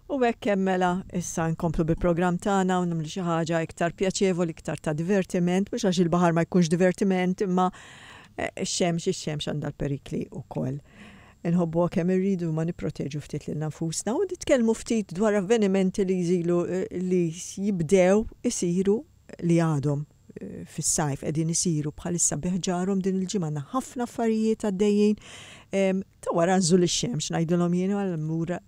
U hekk hemm mela, issa nkomplu bil-programm tagħna u nagħmlu xi ħaġa iktar pjaċevoli, iktar ta' divertiment, mhux għax il-baħar ma jkunx divertiment, imma eh, x-xemx, ix-xemx għandha l-perikli wkoll. Inħobbu kemm irridu ma nipproteġu ftit lil nfusna u nitkellmu ftit dwar avvenimenti li jżilu eh, li jibdew isiru li għadhom eh, fis-sajf qegħdin isiru bħalissa biħġarhom din il-ġimgħa ħafna affarijiet għaddejjin Ta' wara nżul ix-xemx, ngħidilhom jien,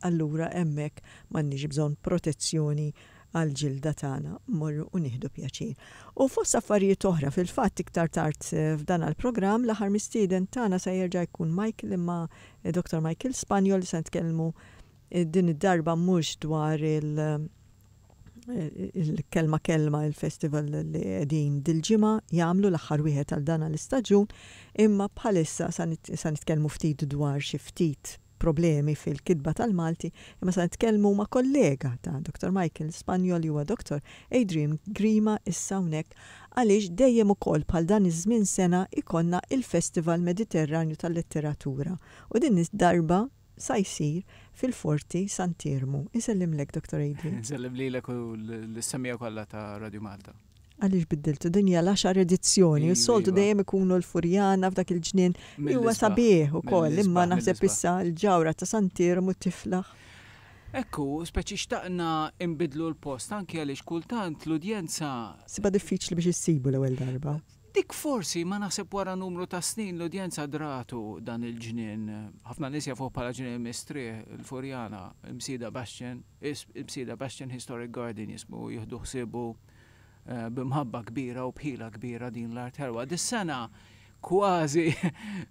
allura hemmhekk m'għandniex bżonn protezzjoni għall-ġilda tagħna, mmorru u nieħdu pjaċir. U fost affarijiet oħra, fil-fatt iktar tard f'dan l-programm, l-aħħar mistieden tagħna se jerġa' jkun Michael imma Dr. Michael Spanjol li se nitkellmu din id-darba mhux dwar il, il-kelma kelma il-festival li qegħdin dil-ġimgħa jagħmlu l-aħħar wieħed għal dan l-istaġun, imma bħalissa sa nitkellmu ftit dwar xi ftit problemi fil-kitba tal-Malti, imma sa nitkellmu ma' kollega ta' Dr. Michael Spanjol li huwa Dr. Adrian Grima issa hawnhekk għaliex dejjem ukoll bħal dan iż-żmien sena jkollna il-Festival Mediterranju tal-Letteratura u din id-darba sa jsir fil-Forti Sant'Iermu. Isellimlek Dottor Adrian. Insellem lilek u lis-semmiegħa kollha ta' Radio Malta. Għaliex biddiltu? Din hija l-għaxar edizzjoni u s-soltu dejjem ikunu l-Furjana f'dak il-ġnien li huwa sabiħ ukoll imma naħseb issa l-ġawhra ta' Sant'Iermu tiflaħ. Hekk hu, speċi xtaqna nbiddlu l-post anki għaliex kultant l-udjenza. Ssibha diffiċli biex issibu l-ewwel darba. Dik forsi, ma naħseb wara numru ta' snin l-udjenza dratu dan il-ġnien, ħafna nies jafuh bħala ġnien mistrieħ, il-Furjana, Imsida Bastian, isb. Imsida Bastian Historic Garden jismu, jieħdu ħsiebu bi mħabba kbira u b'ħila kbira din l-art ħelwa. Dis-sena kważi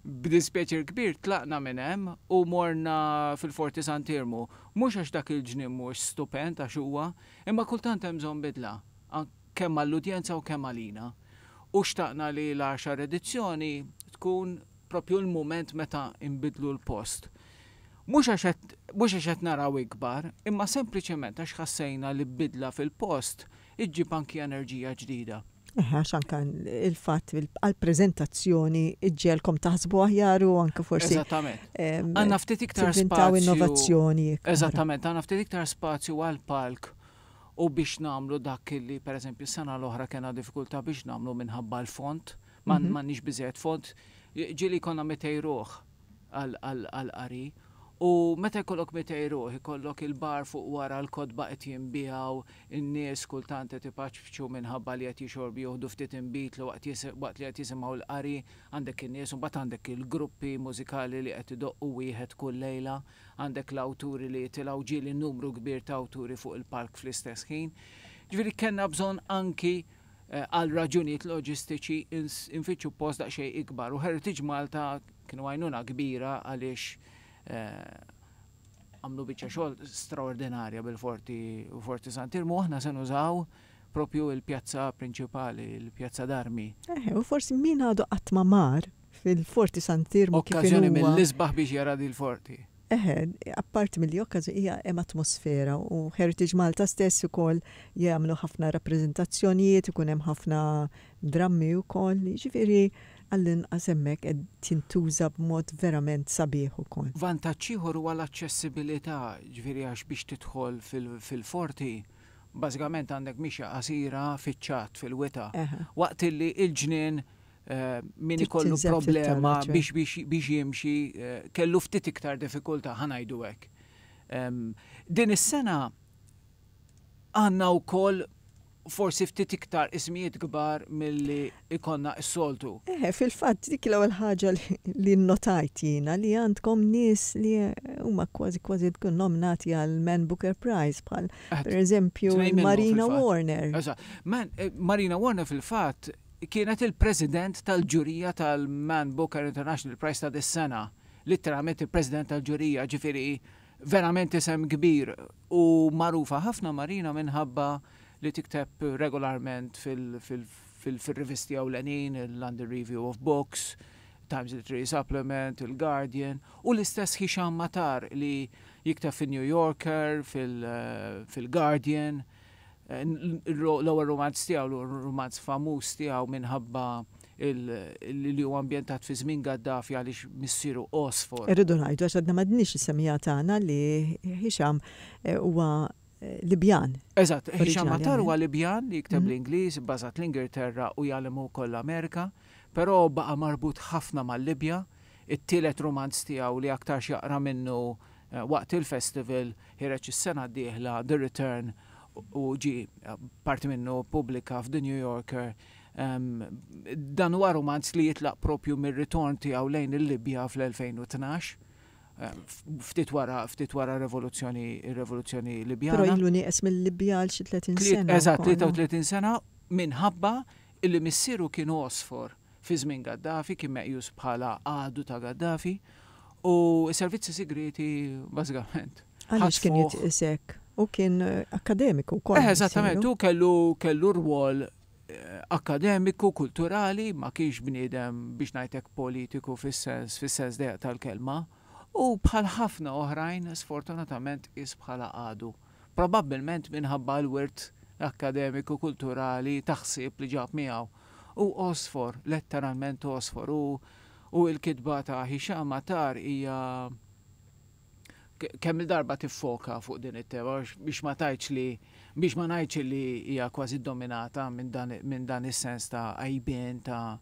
b'dispjaċir kbir tlaqna minn hemm u morna fil-Forti Sant'Iermu. Mhux għax dak il-ġnien mhuwiex stupend għax huwa, imma kultant hemm bżonn bidla. kemm għall-udjenza u kemm għalina. U xtaqna li l-għaxar edizzjoni tkun proprju l-mument meta nbiddlu l-post. Mhux għax qed mhux għax qed naraw ikbar, imma sempliċement għax ħassejna li bidla fil-post iġġib anki enerġija ġdida. Eħe, għax anke il-fatt għall-preżentazzjoni ġġegħelkom taħsbu aħjar u anke forsi. Eżattament. Għandna ftit iktar spazju. Tinventaw innovazzjoni. Eżattament, għandna ftit iktar spazju għall-palk u biex nagħmlu dak li pereżempju s-sena l-oħra kellna diffikultà biex nagħmlu minħabba l-fond, m'għandniex biżżejjed fond, ġieli jkollna mitej ruħ għall-qari. U meta jkollok mitej ruħ, ikollok il-bar fuq wara l-kotba qed jinbiegħu, in-nies kultant qed ipaċpċu minħabba li qed jixorbu jieħdu ftit inbid waqt li qed jisimgħu l-qari, għandek in-nies u mbagħad għandek il-gruppi mużikali li qed idoqqu wieħed kull lejla. Għandek l-awturi li jitilgħu ġieli numru kbir ta' awturi fuq il-palk fl-istess ħin. Ġifieri kellna bżonn anki għal raġunijiet loġistiċi nfittxu post daqsxejn ikbar u Heritage Malta kienu għajnuna kbira għaliex għamlu biċċa xogħol straordinarja bil-Forti Sant' Irmu u aħna se nużaw proprju l-pjazza prinċipali, il-Pjazza d'Armi. Eħe, u forsi min għadu qatt ma mar fil-Forti San Thiermu kif inhu. Okkażjoni mill-isbaħ biex jara din il-forti. Eħe, apparti milli okkażjoni hija hemm atmosfera u Heritage Malta stess ukoll jagħmlu ħafna rappreżentazzjonijiet, ikun hemm ħafna drammi wkoll, jiġifieri għall-inqas hemmhekk qed jintuża b'mod verament sabiħ ukoll. Vantaġġ ieħor huwa l-aċċessibilità, jiġifieri għax biex tidħol fil-forti bażikament għandek mixja qasira fiċ-ċatt fil-wita', waqt illi l-ġnien min ikollu problema biex biex jimxi kellu ftit iktar diffikultà ħa ngħidu hekk. Din is-sena għandna wkoll forsi ftit iktar ismijiet kbar milli jkollna s-soltu. Eħe, fil-fatt dik l-ewwel ħaġa li nnotajt jiena li għandkom nies li huma kważi kważi tkun nominati għal Man Booker Prize bħal pereżempju Marina Warner. Marina Warner fil-fatt Kienet il-President tal-Ġurija tal-Man Booker International Prize ta' dis-sena, litteralment il-President tal-Ġurija, ġifieri verament isem kbir, u magħrufa ħafna Marina minħabba li tikteb regolarment fil-rivisti ewlenin, il-London Review of Books, Times Literary Supplement, il-Guardian, u l-istess Hisham Matar li jikteb fin-New Yorker, fil-Guardian, l-ewwel rumanz tiegħu, l-rumanz famuż tiegħu minħabba li huwa ambjentat fi żmien Gaddafi għaliex missieru għosfor. Irridu ngħidu għax għadna m'għadniex issemmiha tagħna li Hisham huwa Libjan. Eżatt, Hisham Attar huwa Libjan li jikteb l-Ingliż, bbażat l-Ingilterra u jgħallem ukoll l-Amerika, però baqa' marbut ħafna mal-Libja. It-tielet rumanz tiegħu li aktarx jaqra minnu Waqt il-festival ħireġ is-sena d-dieħla The Return u ġie parti minnu ppubblika f'The New Yorker. Dan huwa rumanz li jitlaq proprju mir-ritorn tiegħu lejn il-Libja fl-2012, ftit wara ftit wara r-revoluzzjoni r-revoluzzjoni Libjana. Però ilu nieqes mill-Libja għal xi 30 sena. Eżatt, 33 sena minħabba li missieru kien għosfor Fi żmien Gaddafi kien meqjus bħala għadu ta' Gaddafi u s-servizzi sigrieti bażikament Għaliex kien ħatfuh. jitqies hekk? Hu kien akkademiku wkoll Eħe, eżattament, missieru. hu kellu kellu rwol eh, akkademiku, kulturali, ma kienx bniedem biex ngħid hekk politiku fis-sens fis-sens dejjaq tal-kelma. U bħal ħafna oħrajn sfortunatament tqies bħala għadu. Probabbilment minħabba l-wirt akkademiku, kulturali, ta' ħsieb li ġab miegħu. Hu għosfor, letteralment għosfor, u u l-kitba ta' Hisham Attar hija kemm-il darba tiffoka fuq din it-tema biex ma tgħidx li biex ma ngħidx li hija kważi dominata minn dan minn dan is-sens ta' għajbien ta'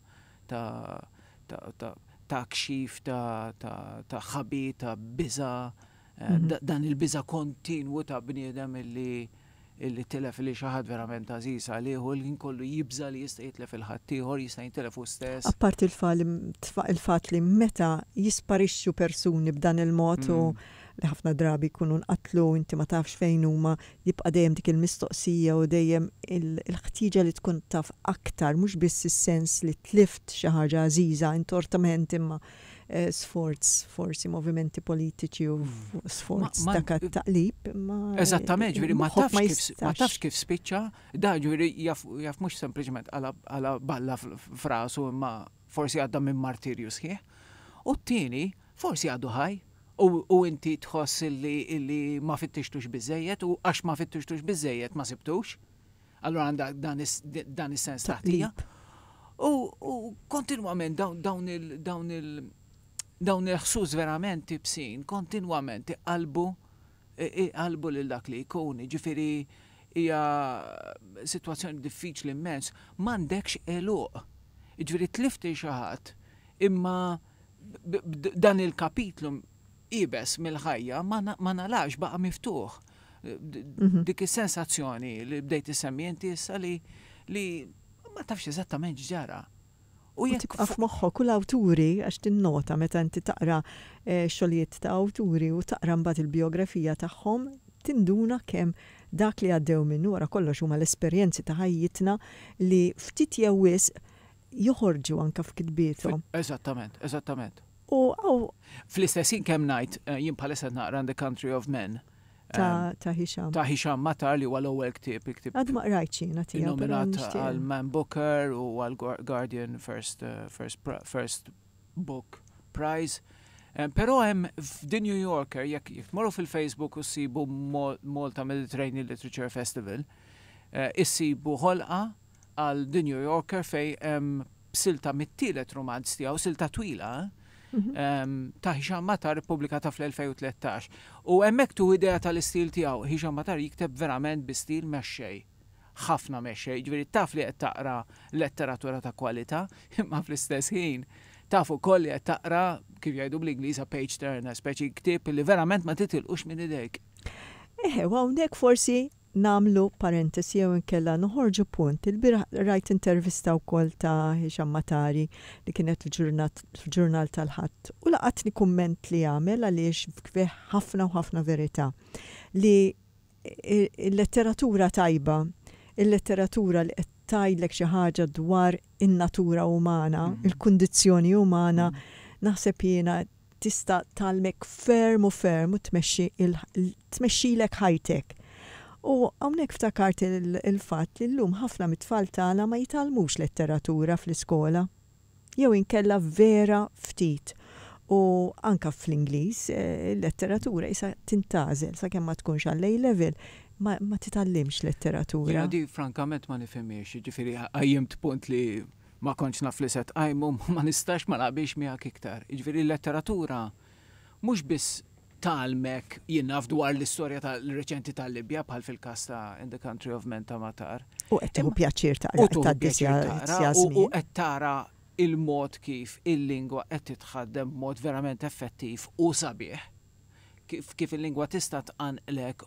ta' ta' ta' ta' kxif ta' ta' ta' ħabi ta' biża' Dan il-biża' kontinwu ta' bniedem illi illi tilef li xi ħadd verament għażiż għalih u l-ħin kollu jibża' li jista' jitlef il-ħaddieħor, jista' jintilef hu stess. Apparti l-fatt li meta jisparixxu persuni b'dan il-mod u li ħafna drabi jkunu nqatlu inti ma tafx fejn huma, jibqa' dejjem dik il-mistoqsija u dejjem il-ħtieġa li tkun taf aktar mhux biss is-sens li tlift xi ħaġa għażiża intortament imma sforz, forsi movimenti politiċi u sforz ta' taqlib. Eżattament, ġviri, ma tafx kif spiċċa, da ġviri jaf mux sempliciment għala balla frasu imma forsi għadda minn martirju sħiħ. U t-tini, forsi għadu ħaj, u inti tħoss li ma fittixtux bizzejet, u għax ma fittixtux bizzejet ma sibtux. Allura għandha dan is-sens ta' ħtija. U kontinwament dawn il-ħsus verament ibsin, kontinwament iqallbu iqallbu lil dak li jkun, jiġifieri hija sitwazzjoni diffiċli mmens, m'għandekx għeluq. Jiġifieri tlift lil xi ħadd, imma dan il-kapitlu iebes mill-ħajja ma ngħalaqx, baqa' miftuħ. Mhm. dik is-sensazzjoni li bdejt isemmi inti issa li li ma tafx eżattament x'ġara. U jekk tibqa' f'moħħok u l-awturi għax tinnota meta inti taqra eh, xogħlijiet ta' awturi u taqra mbagħad il-bijografija tagħhom tinduna kemm dak li għaddew minnu wara kollox huma l-esperjenzi ta' ħajjitna li ftit jew wisq joħorġu anke f'kitbietom. Eżattament, eżattament. u. Fl-istess ħin kemm ngħid, jien bħalissa qed naqra The Country of Men. Ta' ta' Hisham. Ta' Hisham Matar li huwa l-ewwel ktieb, il-ktieb. Għad ma qrajtx jiena tiegħu. Innominat għal Man Booker u għal Guardian First First Book Prize. Però hemm f'The New Yorker, jekk tmorru fil-Facebook u ssibu Malta Mediterranean Literature Festival, issibu ħolqa għal The New Yorker fejn hemm silta mit-tielet rumanz tiegħu, silta twila, ta' Hisham Matar ippubblikata fl-2013. U hemmhekk tuħu idea tal-istil tiegħu. Hisham Matar jikteb verament bi stil mexxej. Ħafna mexxej. Jiġifieri taf li qed taqra letteratura ta' kwalità, imma fl-istess ħin taf ukoll li qed taqra, kif jgħidu bl-Ingliż, a page turner, speċi ktieb li verament ma titilqux minn idejk. Eħe, u hawnhekk forsi Nagħmlu parentesi jew inkella noħorġu punt. Ilbieraħ qrajt intervista wkoll ta' Hisham Matari li kienet f'ġurnat f'ġurnal tal-Ħadd u laqatni kumment li għamel għaliex fih ħafna u ħafna verità li l-letteratura tajba, il-letteratura li qed tgħidlek xi ħaġa dwar in-natura umana, il-kundizzjoni umana, naħseb jiena tista' tgħallmek ferm u ferm u tmexxi tmexxilek ħajtek. U hawnhekk ftakart il-fatt li llum ħafna mit-tfal tagħna ma jitgħallmux letteratura fl-iskola. Jew inkella vera ftit. U anke fl-Ingliż, il-letteratura qisha tintgħażel sakemm ma tkunx għall-A Level ma ma titgħallimx letteratura. Jiena din frankament ma nifhimhiex, jiġifieri qajjimt punt li Ma kontx naf li se tqajmu, ma ma nistax ma naqbilx miegħek iktar. Jiġifieri l-letteratura mhux biss tgħallmek, jien naf dwar l-istorja ta' reċenti tal-Libja bħal fil-każ ta' In the Country of Men ta' Matar. U qed tieħu pjaċir taqra, qed tgħaddi siegħa żmien. U qed tara l-mod kif il-lingwa qed titħaddem b'mod verament effettiv u sabiħ. kif kif il-lingwa tista' tqanqlek,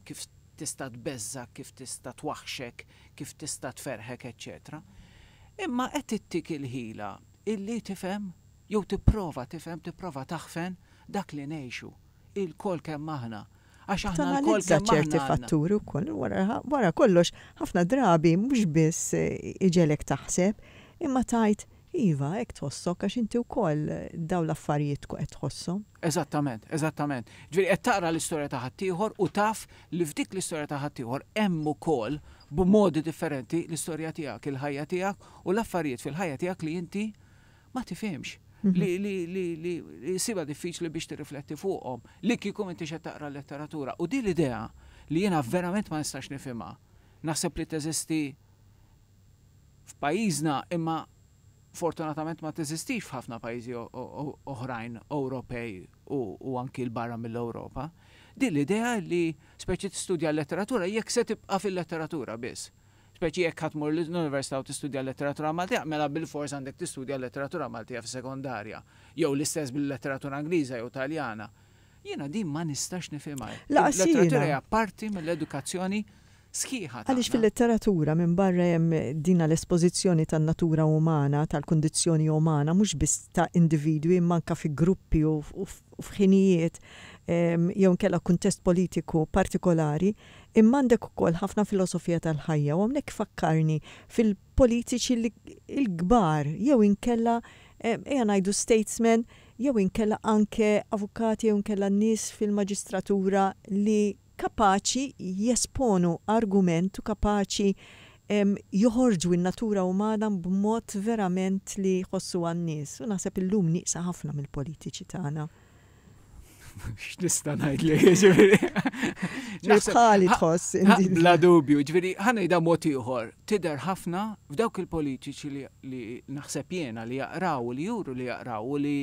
kif tista' tbeżżgħek, kif tista' twaħħxek, kif tista' tferrħek, eċċetera Imma qed ittik il-ħila illi tifhem jew tipprova tifhem, tipprova taħfen dak li ngħixu ilkoll kemm aħna, għax aħna lkoll kemm aħna għandna. Tanalizza ċerti fatturi wkoll, wara kollox ħafna drabi mhux biss iġegħlek taħseb, imma tgħid Iva, hekk tħossok għax inti wkoll dawn l-affarijiet tkun qed tħosshom. Eżattament, eżattament. Ġifieri qed taqra l-istorja ta' ħaddieħor u taf li f'dik l-istorja ta' ħaddieħor hemm ukoll, b'modi differenti, l-istorja tiegħek, il-ħajja tiegħek u l-affarijiet fil-ħajja tiegħek li inti ma tifhimx, li li li li ssibha diffiċli biex tirrifletti fuqhom, li kieku m'intix qed taqra l-letteratura. U din l-idea, li jiena verament ma nistax nifhimha, naħseb li teżisti, f'pajjiżna imma fortunatament ma teżistix f'ħafna pajjiżi oħrajn Ewropej u anki 'l barra mill-Ewropa, din l-idea li speċi tistudja l-letteratura jekk se tibqa' fil-letteratura biss. Speċi jekk ħa tmur l-Università u tistudja l-letteratura Maltija, mela bilfors għandek tistudja l-letteratura Maltija fis-sekondarja, jew l-istess bil-letteratura Ingliża jew Taljana. Jiena din ma nistax nifhimha. Lanqas jiena. Il-letteratura hija parti mill-edukazzjoni sħiħa tagħna. Għaliex fil-letteratura minbarra hemm dina l-espożizzjoni tan-natura umana, tal-kundizzjoni umana, mhux biss ta' individwi imma anke fi gruppi u f'ħinijiet jew inkella kuntest politiku partikolari, imma għandek ukoll ħafna filosofija tal-ħajja u hawnhekk ifakkarni fil-politiċi l-kbar jew inkella ejja ngħidu statesmen jew inkella anke avukati jew inkella nies fil-maġistratura li kapaċi jesponu argument u kapaċi joħorġu n-natura umana b'mod verament li jħossuha n-nies. U naħseb illum nieqsa ħafna mill-politiċi tagħna. X'nista' ngħidlek, ġifieri. Bħali tħoss. Bla dubju, ġifieri ħanejda mod ieħor. Tidher ħafna f'dawk il-politiċi li naħseb jiena li jaqraw u li juru li jaqraw u li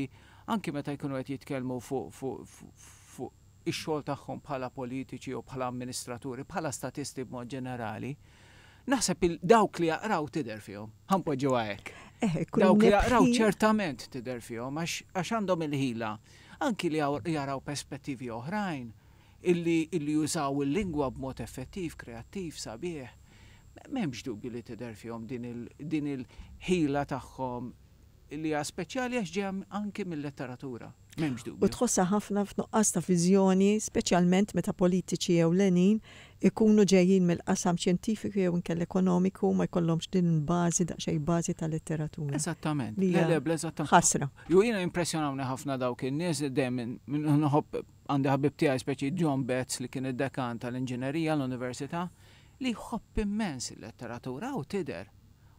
anki meta jkunu qed jitkellmu fuq ix-xogħol tagħhom bħala politiċi jew bħala amministraturi, bħala statisti b'mod ġenerali, naħseb il dawk li jaqraw tidher fihom. Ħa npoġġuha hekk. Eh, kull Dawk li jaqraw nibħi- ċertament tidher fihom għax għax għandhom il-ħila anki li jaw- jaraw perspettivi oħrajn illi illi jużaw il-lingwa b'mod effettiv, kreattiv, sabiħ. M- M'hemmx dubju li tidher fihom din il- din il-ħila tagħhom Li hija speċjali għax ġejja anki mil-letteratura, m'hemmx dubju. U tħossha ħafna f'nuqqas ta' viżjoni, speċjalment meta politiċi ewlenin ikunu ġejjin mill-qasam xjentifiku jew inkella ekonomiku u ma jkollhomx din il-bażi, daqsxejn bażi ta' letteratura. Eżattament. Li hija ħasra. U jiena jimpressjonawni ħafna dawk in-nies, dejjem inħobb, għandi ħabib tiegħi speċi John Betts li kien id-Dekan tal-Inġinerija l-Università, li jħobb immens il-letteratura u tidher,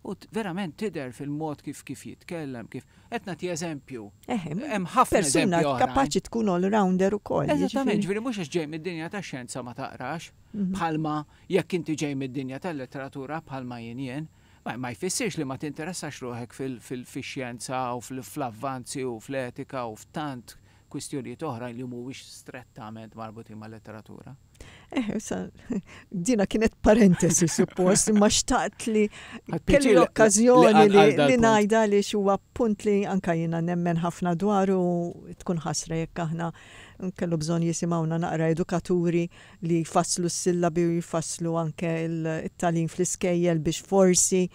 u verament tidher fil-mod kif kif jitkellem, kif, qed nagħti eżempju, hemm ħafna eżempji oħrajn. Persuna kapaċi tkun all rounder ukoll. Eżattament, jiġifieri mhux għax ġej mid-dinja tax-xjenza ma taqrax, bħalma jekk inti ġej mid-dinja tal-letteratura bħalma jien jien, ma jfissirx li ma tinteressax ruħek fix-xjenza u fl-avvanzi u fl-etika u f'tant kwistjonijiet oħrajn li mhuwiex strettament marbutin mal-letteratura. Eh, dina kienet parentesi suppost, ma xtaqt li kelli l-okkazjoni li najda li xuwa punt li anka jina nemmen ħafna dwaru tkun ħasra jekk aħna kellu bżon jisimawna naqra edukaturi li jfasslu s-sillabi u jfasslu anke il-talim fl-iskejjel biex forsi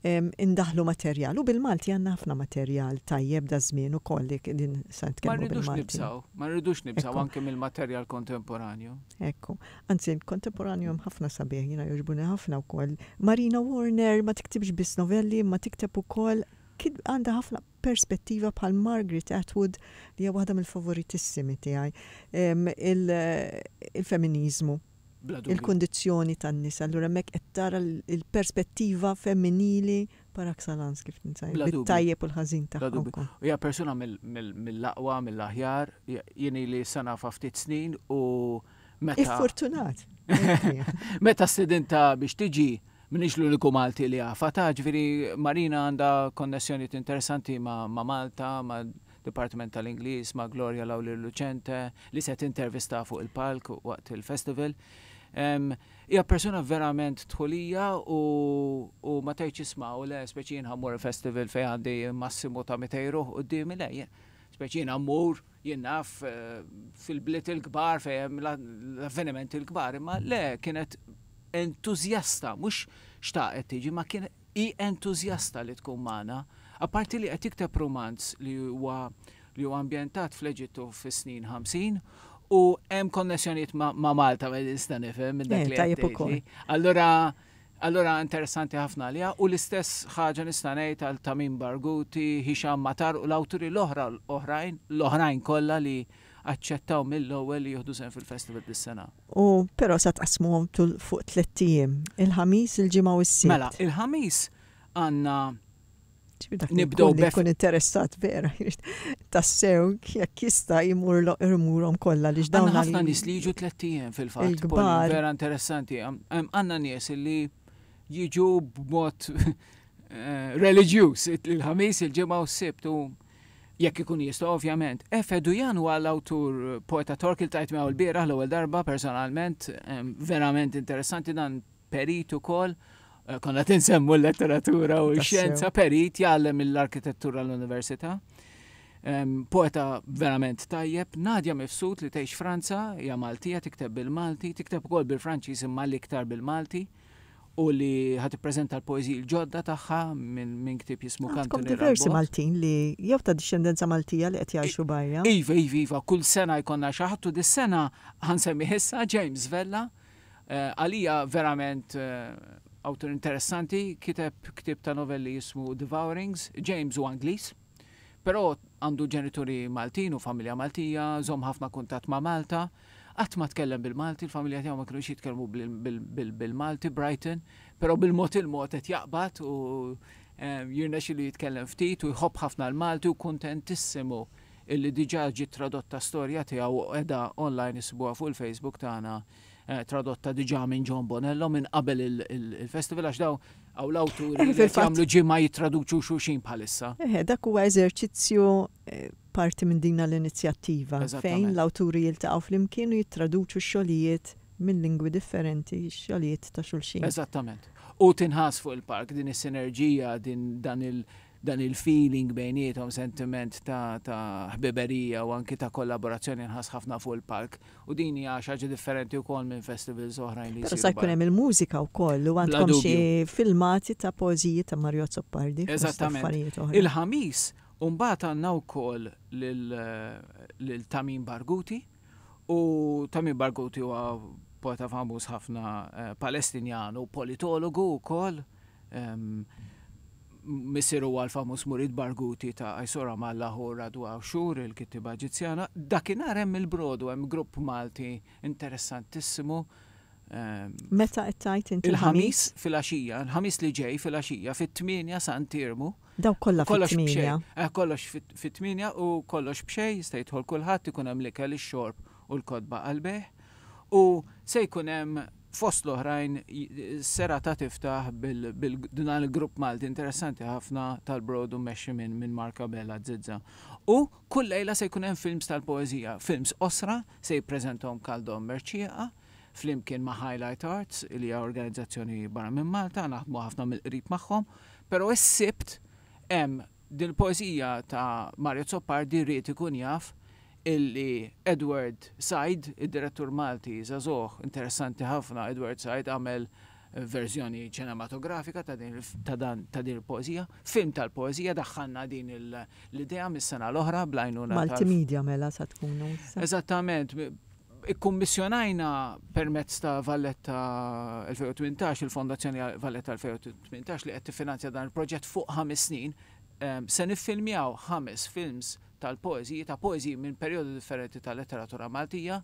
indaħħlu materjal. U bil-Malti għandna ħafna materjal tajjeb daż-żmien ukoll li qegħdin sa nitkellmu bil-Malti. Ma rridux nibżgħu, ma rridux nibżgħu anke mill-materjal kontemporanju. Ekku. Anzi, kontemporanju hemm ħafna sabiħ, jiena jogħġbuni ħafna wkoll. Marina Warner ma tiktibx biss novelli imma tikteb ukoll għandha ħafna perspettiva bħal Margaret Atwood li hija waħda mill-favoritissimi tiegħi il-feminiżmu. Il bla dubju. Il-kundizzjoni tan-nisa, allura hemmhekk qed tara l-perspettiva femminili par excellence kif nista' ngħid, bit-tajjeb u l-ħażin tagħha wkoll. Bla dubju. U hija persuna mill-aqwa, mill-aħjar. Jien ili issa nafha ftit snin u meta. Iffortunat! Meta stidintha biex tiġi, m'iniex l-uniku Malti li jafha, taf, ġifieri Marina għandha konnessjonijiet interessanti ma' Malta, ma' Dipartiment tal-Ingliż ma' Gloria Lawlir Lucente li se tintervistha fuq il-palk waqt il-festival. Hija persuna verament dħulija u u ma tgħidx isma' u le speċi jien ħammur il-festival fejn għandi massimu ta' 200 ruħ quddiemi le jien speċi jien ħammur jien naf fil-bliet il-kbar fejn hemm l-avvenimenti l-kbar imma le kienet entużjasta mhux xtaqet tiġi ma kien Hi entużjasta li tkun magħna. Apparti li qed tikteb rumanz li huwa li huwa ambjentat fl-Eġittu fis-snin ħamsin u hemm konnessjonijiet ma' Malta meta nista' nifhem minn dak li qed tgħidli. Allura allura interessanti ħafna għaliha u l-istess ħaġa nista' ngħid għal Tamim Barghouti, Hisham Matar u l-awturi l-oħra l-oħrajn l-oħrajn kollha li aċċettaw mill-ewwel li jieħdu sehem fil-festival dis-sena. U però sa tqassmuhom tul fuq tlett ijiem, il-Ħamis, il-Ġimgħa u s-Sibt. Mela, il-Ħamis għandna Ġifieri dak li jkun li jkun interessat vera jrid tassew jekk jista' jmur imurhom kollha għaliex dawn. Għandna ħafna nies li jiġu tlett ijiem fil-fatt. Il-kbar. Vera interessanti. Għandna nies li jiġu b'mod reliġjuż il-Ħamis, il-Ġimgħa u s-Sibt u Jekk ikun jista' ovvjament. Efe Dujan huwa l-awtur Poeta Tork iltqajt miegħu lbieraħ l-ewwel darba personalment, verament interessanti dan perit ukoll, konna qed insemmu l-letteratura u x-xjenza, perit jgħallem mill-arkitettura l-università. Poeta verament tajjeb, Nadja Mifsud li tgħix Franza, hija Maltija tikteb bil-Malti, tikteb ukoll bil-Franċiż imma l-iktar bil-Malti. u li ħa tippreżenta l-poeżiji l-ġodda tagħha minn ktieb jismu Kantunera. Għandkom diversi Maltin li jew ta' dixxendenza Maltija li qed jgħixu barra. Iva, iva, iva, kull sena jkollna xi ħadd u dis-sena ħansemmih issa James Vella, għalija verament awtur interessanti, kiteb ktieb ta' novelli jismu Devourings, James huwa Ingliż. Però għandu ġenituri Maltin u familja Maltija, żomm ħafna kuntatt ma' Malta. Qatt ma tkellem bil-Malti, il-familja tiegħu ma kinux jitkellmu bil-Malti, Brighton, però bil-mod il-mod qed jaqbad u jirnexxilu jitkellem ftit u jħobb ħafna l-Malti u kuntentissimou illi diġà ġiet tradotta storja tiegħu u qiegħda online issibuha fuq il-Facebook tagħna tradotta diġà minn John Bonello minn qabel il-festival għax daw għaw l-awturi li jagħmlu ġimgħa jittraduċu xuxin bħalissa. Eh, dak huwa eżerċizzju eh, parti minn din l-inizjattiva fejn l-awturi jiltaqgħu flimkien u jittraduċu xogħlijiet minn lingwi differenti, xogħlijiet ta' xulxin. Eżattament. U tinħas fuq il-park din is-sinerġija, din dan il- dan il-feeling bejniethom, sentiment ta' ta' ħbiberija u anki ta' kollaborazzjoni nħass ħafna fuq il-palk. U din hija xi ħaġa differenti wkoll minn festivals oħrajn li jsiru barra. Però sa jkun hemm il-mużika wkoll u għandkom xi filmati ta' poeżiji ta' Mario Azzopardi fost affarijiet oħra. Il-Ħamis u mbagħad għandna wkoll lil Tamim Barghouti. U Tamim Barghouti huwa poeta famuż ħafna Palestinjan u politologu wkoll. Missieru huwa l-famuż Murid Barghouti ta' Aisor Amallah u Radwa Ashur, il-kittieba Eġizzjana. Dakinhar hemm il-Brodu, hemm grupp Malti interessantissimu. Meta qed tgħid inti l-Ħamis? Il-Ħamis filgħaxija, il-Ħamis li ġej filgħaxija fit-tmienja sa Antiermu. Dawk kollha fit-tminja. Eh, kollox fit-tminja u kollox b'xej, jista' jidħol kulħadd, ikun hemm l-ikel, ix-xorb u l-kotba għall-bejgħ. U se jkun hemm fost l-oħrajn serata tiftaħ bil-dan il-grupp Malti interessanti ħafna tal-Brodu mmexxi minn min Mark Abela Zizza. U kull lejla se jkun hemm films tal-poeżija, films qosra se jippreżentahom Kaldon Mercieqa. Flimkien ma' Highlight Arts, li hija organizzazzjoni barra minn Malta, naħdmu ħafna mill-qrib magħhom, però s-Sibt hemm din il-poeżija ta' Mario Azzopardi ried ikun jaf illi Edward Said, id-direttur Malti żagħżugħ interessanti ħafna, Edward Said għamel verżjoni ċinematografika ta' din ta' din il-poeżija, film tal-poeżija, daħħalna din l-idea mis-sena l-oħra bl-għajnuna tal-. Maltimedia mela sa tkun hu issa. Eżattament. Ikkummissjonajna permezz ta' Valletta 2018, il-Fondazzjoni Valletta 2018 li qed tiffinanzja dan il-proġett fuq ħames snin, se niffilmjaw ħames films tal-poeżiji, ta' poeżiji minn perjodu differenti tal-letteratura Maltija,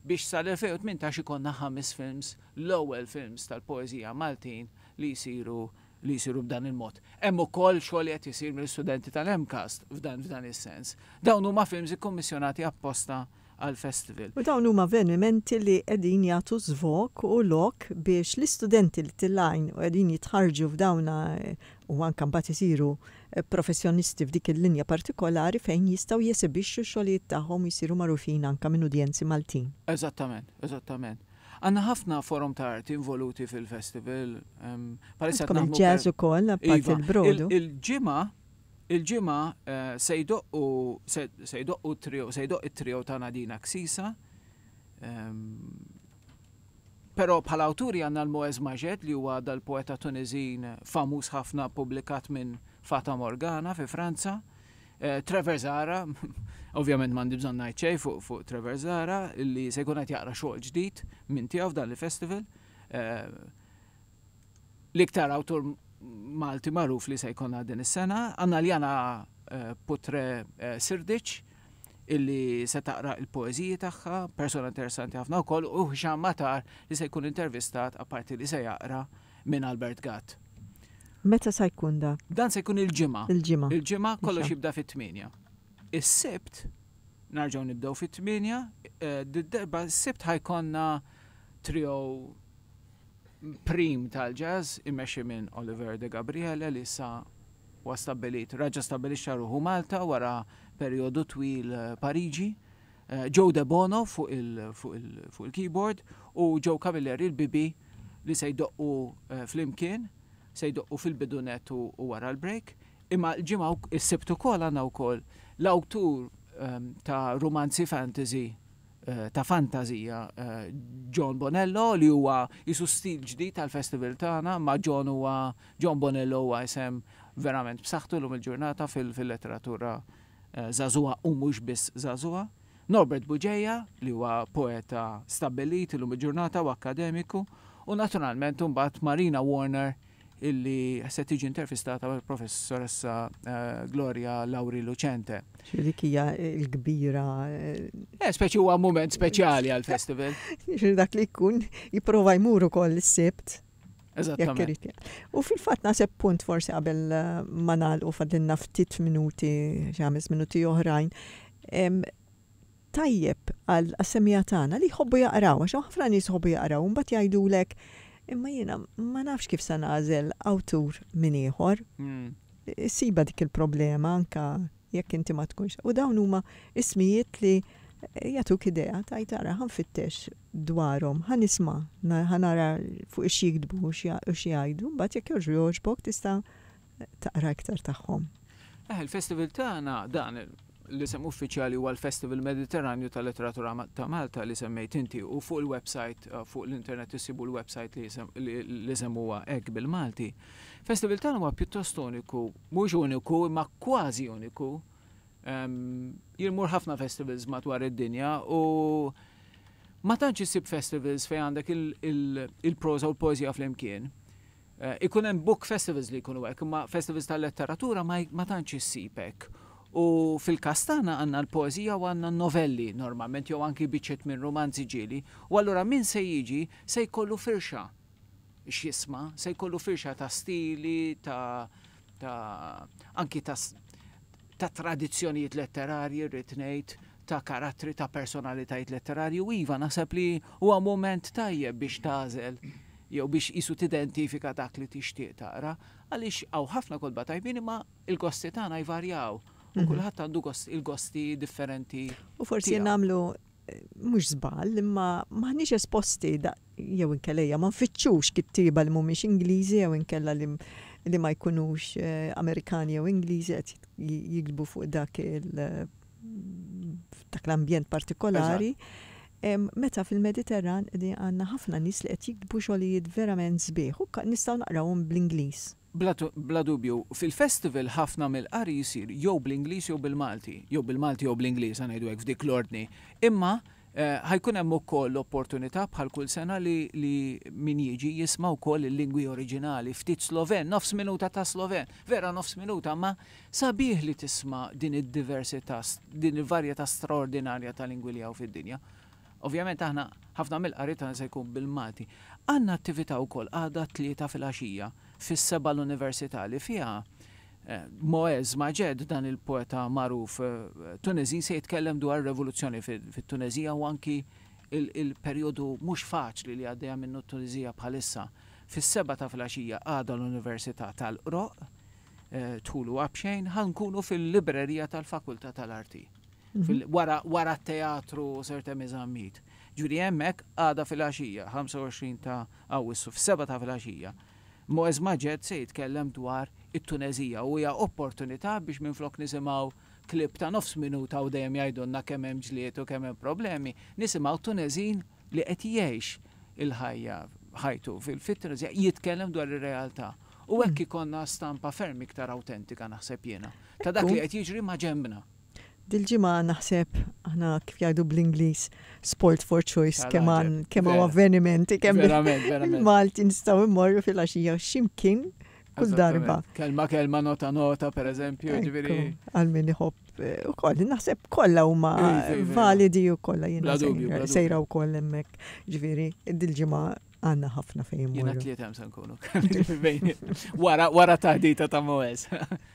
biex sal-2018 ikollna ħames films, l-ewwel films tal-poeżija Maltin li jsiru li jsiru b'dan il-mod. Hemm ukoll xogħol li qed isir mill-istudenti tal-MCAST f'dan f'dan is-sens. Dawn huma films ikkummissjonati apposta għall-festival. U dawn huma avvenimenti li qegħdin jagħtu żvog u lok biex l-istudenti li tilgħin u qegħdin jitħarrġu f'dawn u anke mbagħad isiru professjonisti f'dik il-linja partikolari fejn jistgħu jesibixxu x-xogħlijiet tagħhom u jsiru magħrufin anke minn udjenzi Maltin. Eżattament, eżattament. Għandna ħafna forom ta' art involuti fil-festival. Bħalissa qed naħdmu. Għandkom il-jazz ukoll, apparti il-brodu. Il-ġimgħa, il-ġimgħa se jdoqqu, se jdoqqu t-trio, se jdoqq it-trio tagħna Dina Ksisa. Però bħala awturi għandna l-Moez Majed li huwa dal-poeta Tuniżin famuż ħafna ppubblikat minn Fata Morgana fi Franza. Eh, Trevor Zara, ovvjament mandi bżon ngħid xejn fuq fu Trevor Zara li se jkun qed jaqra xogħol ġdid minn tiegħu f'dan il-festival. Eh, l-iktar awtur Malti magħruf li se jkun din is-sena, għandna Ljana eh, Putre Sirdiċ illi se taqra il-poeziji tagħha, persona interessanti ħafna wkoll u Hisham Matar li se jkun intervistat apparti li se jaqra minn Albert Gatt. Meta sa jkun dak? Dan se jkun il-Ġimgħa. Il-Ġimgħa. Il-Ġimgħa kollox jibda fit-tmienja. Is-Sibt narġgħu nibdew fit-tmienja, did-darba s-Sibt ħa jkollna trio prim tal-jazz imexxi minn Oliver De Gabriele li issa huwa stabbilit, raġa' stabbilixxa ruħu Malta wara perjodu twil Pariġi, Joe Debono fuq il-keyboard u Joe Camilleri l-bibi li se jdoqqu flimkien, se jdoqqu fil-bidu nett u wara l-break. Imma l-Ġimgħa, is-Sibt ukoll għandna wkoll l-awtur ta' rumanzi fantasy ta' fantażija John Bonello li huwa qisu stil ġdid għall-festival tagħna imma John huwa John Bonello huwa isem verament b'saħħtu llum il-ġurnata fil-letteratura żagħżugħa u mhux biss żagħżugħa. Norbert Bugeja, li huwa poeta stabbilit illum il-ġurnata u akkademiku, u naturalment imbagħad Marina Warner illi se tiġi intervistata mill-Professoressa Gloria Lauri Lucente. Dik hija l-kbira. Eh, speċi huwa mument speċjali għall-festival. Dak li jkun jipprova jmur ukoll is-sibt Eżattament. U fil-fatt naħseb punt forsi qabel eh, ma nagħlqu fadlinna ftit minuti, xi ħames minuti oħrajn tajjeb għal assemija tagħna li jħobbu jaqraw, għax ħafna nies jħobbu jaqraw, mbagħad jgħidulek imma jiena ma nafx kif se nagħżel awtur minn ieħor. Hmm. Siba dik il-problema anka jekk inti ma tkunx. U dawn huma ismijiet li jagħtuk idea tajt ara ħanfittex dwarhom, ħa nisma', ħa nara fuq ix jiktbu u x'jgħidu, mbagħad jekk jogħġbu jogħġbok tista' taqra iktar tagħhom. Eħe, il-festival tagħna dan, l-isem uffiċjali huwa l-Festival Mediterranju tal-Letteratura ta' Malta li semmejt inti u fuq il-websajt, fuq l-internet issibu l-websajt li l-isem huwa hekk bil-Malti. Festival tagħna huwa pjuttost uniku, mhux uniku imma kważi uniku Jien mur ħafna festivals madwar id-dinja u ma tantx issib festivals fejn għandek il-proża u l-poeżija flimkien. Eh, ikun hemm book festivals li jkunu hekk, imma festivals tal-letteratura ma tantx issib hekk. U fil-kastana għandna l-poeżija u għandna novelli normalment jew anki biċċiet minn romanzi ġieli, u allura min se jiġi se jkollu firxa x'jisma', se jkollu firxa ta' stili, ta' ta' anki ta' ta' tradizzjonijiet letterarji rrid ngħid, ta' karattri ta' personalitajiet letterarji u iva naħseb li huwa mument tajjeb biex tagħżel jew biex qisu tidentifika dak li tixtieq taqra għaliex hawn ħafna kotba tajbin imma l-gosti tagħna jvarjaw u kulħadd għandu gost il-gosti differenti. U forsi nagħmlu mhux żball, imma m'aħniex esposti da, jew inkelejja ma nfittxux kittieba li mhumiex Ingliżi jew inkella li li ma jkunux Amerikani jew Ingliżi qed jiktbu fuq dak il dak l-ambjent partikolari. Meta fil-Mediterran qegħdin għandna ħafna nies li qed jiktbu xogħlijiet verament sbieħ u nistgħu naqrawhom bl-Ingliż. Bla bla dubju, fil-festival ħafna mill-qari jsir jew bl-Ingliż jew bil-Malti, jew bil-Malti jew bl-Ingliż, ħa ngħidu hekk f'dik l-ordni. Imma ħa jkun hemm ukoll opportunità bħal kull sena li li min jiġi jisma' wkoll il-lingwi oriġinali, ftit Sloven, nofs minuta ta' Sloven, vera nofs minuta, imma sabiħ li tisma' din id-diversità, din il-varjetà straordinarja ta' lingwi li hawn fid-dinja. Ovvjament aħna ħafna mill-qari tagħna se jkun bil-Malti. Għandna attività wkoll għada t-Tlieta filgħaxija fis-Seba' l-Università li fiha Moez Majed, dan il-poeta magħruf Tuneżiż se jitkellem dwar ir-revoluzzjoni fit-Tuneżija u anki il-perjodu mhux faċli li għaddejja minnu t-Tuneżija bħalissa. Fis-Seba' ta' filgħaxija għada l-Università tal-Qroq, dħulu abxejn, ħa nkunu fil-Librerija tal-Fakultà tal-Arti. wara wara t-teatru Sir Temi Zammit. Ġifieri hemmhekk għada filgħaxija, 25 ta' Awwissu, fis-sebgħa ta' filgħaxija, Moez Madjed se jitkellem dwar it-Tuneżija u hija opportunità biex minflok nisimgħu clip ta' nofs minuta u dejjem jgħidulna kemm hemm ġlied u kemm hemm problemi, nisimgħu Tuneżin li qed jgħix il-ħajja ħajtu fit-Tuneżija jitkellem dwar ir-realtà. U hekk ikollna stampa ferm iktar awtentika, naħseb jiena, ta' dak li qed jiġri ma' ġenbna. Dil-ġimgħa naħseb aħna kif jgħidu bl-Ingliż sport for choice kemm għan kemm hawn avvenimenti kemm Malti nistgħu mmorru fil-għaxija x'imkien kull darba. Kelma kelma nota nota pereżempju, ġifieri. Għal min iħobb eh, ukoll naħseb kollha huma validi u kollha jiena sejra wkoll hemmhekk. Ġifieri dil-ġimgħa Għanna ħafna fejn morru. Jena tliet hemm se nkunu. Wara wara taħdita ta' Moez.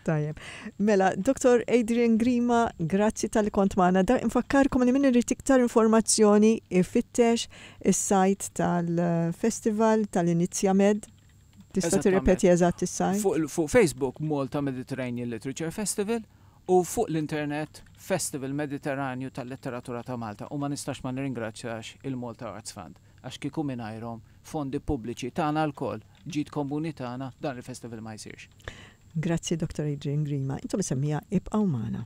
Tajjeb. Mela, Dr. Adrian Grima, grazzi tal-li kont magħna. Da infakkarkom li min irid iktar informazzjoni ifittex is-sajt tal-Festival tal-Inizjamed. Tista' tirrepeti eżatt is-sajt? Fuq Facebook Malta Mediterranean Literature Festival u fuq l-internet Festival Mediterranju tal-Letteratura ta' Malta u ma nistax ma nirringrazzjax il-Malta Arts Fund. għax kieku mingħajrhom, fondi pubbliċi tagħna lkoll, ġid komuni tagħna, dan il-festival ma jsirx. Grazzi Dottor Adrian Grima, intom isemmija ibqgħu magħna.